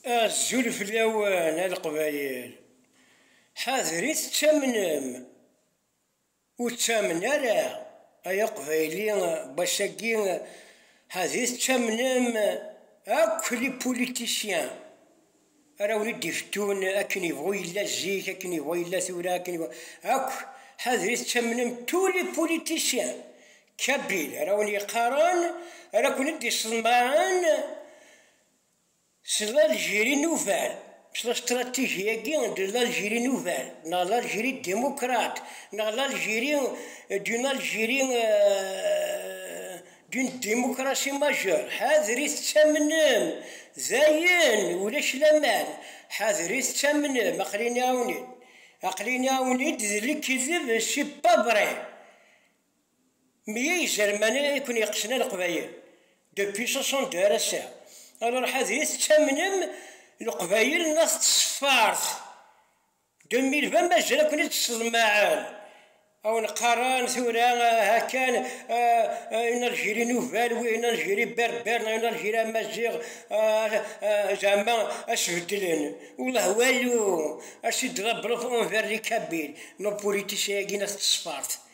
Azul fell-awen a Leqbayel. Ḥadret ttamnem, ur ttamen ara ay Aqbayli bac-agi ḥadret ttamnem akk les politiciens ara wen-id-ifettun akken yebɣu yella zik, akken yebɣu yella tura, akken yebɣu akk ḥadret ttamnem tous les politiciens Kabil, ara wen yeqqaren, ara ken-id iṣeḍmaren s l'Algérie nouvelle, s la stratégie-agi de l'Algérie nouvelle, neɣ l'Algérie démocrate, neɣ l'Algérie d'une Algérie d'une démocratie majeure, ḥadret ttamnem, dayen ulac laman, ḥadret ttamnem, aqlini-awen-id, aqlini-awen-id d lekdeb, c'est pas vrai, Meyya izerman i ken yeqsen a leqbayel depuis soixante-deux ar ass-a alors ḥadri tettamnem leqbayel n at tṣeffart deux mille vingt mazal a ken-id-sḍemmaɛen a wen-qqaren tura hakan une Algérie nouvelle oui une Algérie berbère neɣ une Algérie amaziɣ zeɛma a s-beddlen welleh walu a s-id-ḍebbren envers les kabyles nos politiciens-agi n at tṣeffart.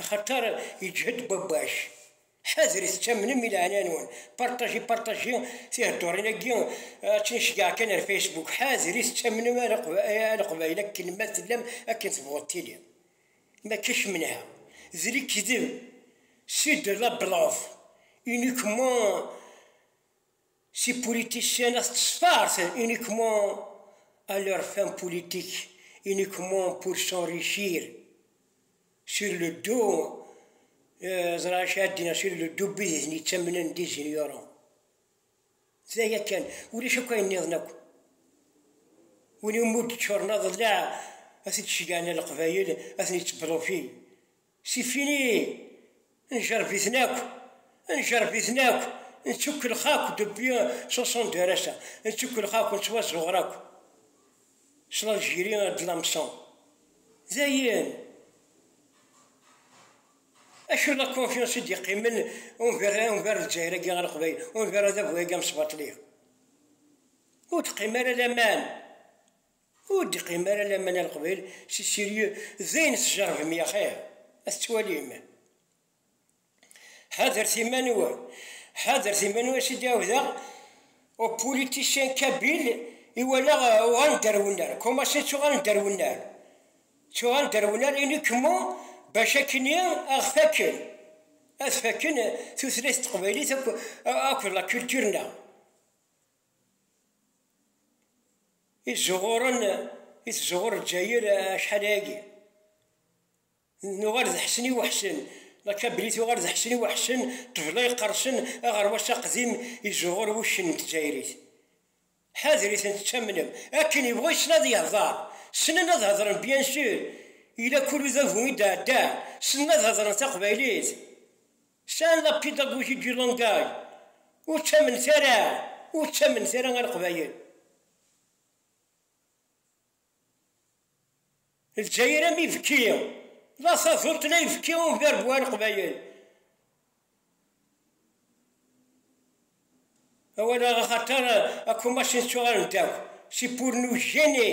Axaṭer yeǧhed Babac. Ḥadret tamnem i leɛnaya-nwen. Partager partager tiheddurin-agi akken i ceggɛeɣ kan ar Facebook. Ḥadret tamnem a Leqbayel akken ma tellam akken tebɣuḍ tili. Maca kemneha d lekdeb c'est de la bluff uniquement. Si politiciens as disfarcen uniquement à leurs fins politiques, uniquement pour s'enrichir sur le dos ẓra cadina sur le dos bidis ni ttamnen d ignorants. D aya kan, ulac akk ayen niḍen akk. Win umi d-ččuren aḍellaɛ, ad t-id-ceggɛen leqbayel, ad ten-itteblufi. C'est fini! Njerreb-iten akk, njerreb-iten akk, nettukkellex akk depuis soixante-deux ar ass-a, nettukkellex akk, nettwazzuɣer akk s l'Algérie de l'hameçon. Dayen! Acu la confiance i d-yeqqimen unvar unvar Lezzayer-agi ɣer Leqbayel, unvar adabu-agi amesbaṭli? Ur d-teqqim ara laman. Ur d-iqqim ara lamana Leqbayel si sérieux d ayen tjerbem yaxir a t-ttwalim. Ḥadret iman-nwen, ḥadret iman-nwen a s-id-ɛiwdeɣ au politicien kabyle i walaɣ uɣalen-d ar wennar, comment ça ttuɣalen-d ar wennar? Ttuɣalen-d ar wennar uniquement bac akkenni a ɣ-fakken, ad fakken tutlayt teqbaylit akk, akk d la culture-nneɣ. i tzuɣuren i tzuɣur Lezzayer acḥal ayagi nuɣal d Ḥsen i Weḥsen la kabli tuɣal d Ḥsen i Weḥsen ṭṭbla iqersen aɣerwas aqdim i tzuɣur wuccen n tezzayrit ḥadrit-en tettamnem akken yebɣa yessen ad yehder ssnen ad hedren bien sûr yella kul udabu i d-ɛeddan ssnen ad hedren taqbaylit San la pédagogie du langage, ur ttamenet ara, ur ttamenet ara a Leqbayel. Lezzayer am ibekki, la taduṭ la ibekki umberbu a Leqbayel. Awal-a axaṭer akumac nettuɣalen-d akk, c'est pour nous gêner.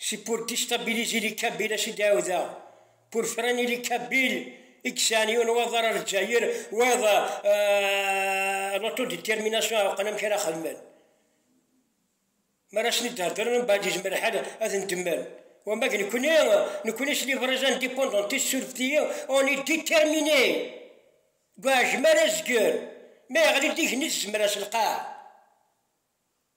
Si pur distabilis ili Kabila si dɛawda, pur fren ili Kabil i yesɛan yiwen n waḍar ar Lezzayer, wayeḍ l'autodetermination ɛewqen amek ara xedmen. M'ara sen-id-heddren mbeɛd yezmer lḥal ad ndemmen. Wamma d nekni, nekni s livres indépendantistes survti on est déterminé deg uɛejmi ara nezger, ma yeɣli-d igenni s tzemra s lqaɛ.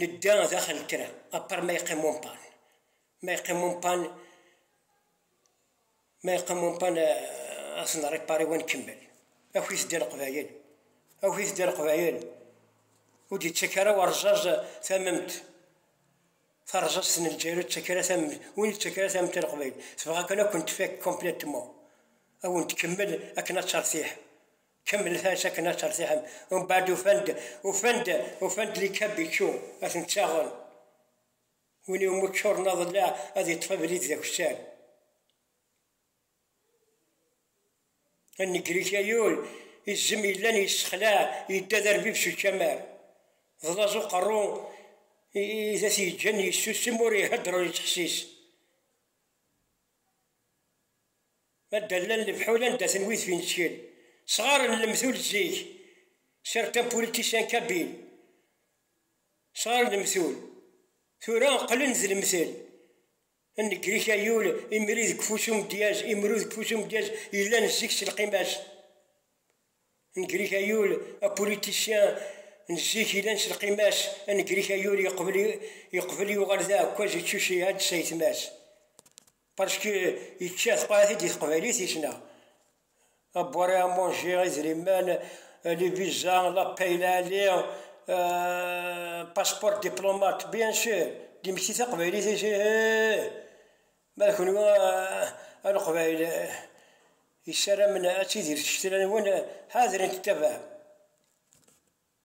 Nedda daxel n kra, apar ma yeqqim umpan. Ma yeqqim umpan, ma yeqqim umpan ad s-nripari wa nkemmel. Awit-d a Leqbayel, awit-d a Leqbayel, ur d-yettak ara urẓaẓ tamemt, tarẓazt n Lezzayer ur d-yettak ara tamemt, win yettak ara tamemt a Leqbayel, tebɣa kan ad kent-tfak complètement, ad wen-tkemmel akken ad tertiḥ. Kemmlet-as akken ad tertiḥem. Umbeɛd ufan-d, ufan-d, ufan-d likab ičču, ad ten-ttaɣen. Win iwumi ččuren aḍellaɛ ad iṭṭef abrid d akessar. Anegrik ayul, izem yellan yessexlaɛ, yedda d arbib s ucamar. D laẓ uqerru i t-yeǧǧan yessusem, ur ihedder ur yettḥessis. Ma d allan lefḥul anda-ten wid fin ttkel sɣar n lemtul zik, certains politiciens kabyle, sɣar n lemtul, tura qqlen d lemtel, nnger-ik a yul, imri deg ufus umedyaz, imru deg ufus umedyaz yellan zik s lqima-s. Negrik ayul, apolitisyen n zik ilan s lqima-s, anegrik ayul yeqbel yuɣal d aɛekkaz yettucci ad s ayetma-s parce que yečča teqɛit-id di teqbaylit yesna à boire et à manger, idrimen, les visas, la paye, la ali, euh, passeport, diplomate, bien sûr, d imetti taqbaylit-is, ihh! Ma d kunwi a Leqbayel yessaramen ad tidir tcetla-nwen, ḥadret ttabaɛ.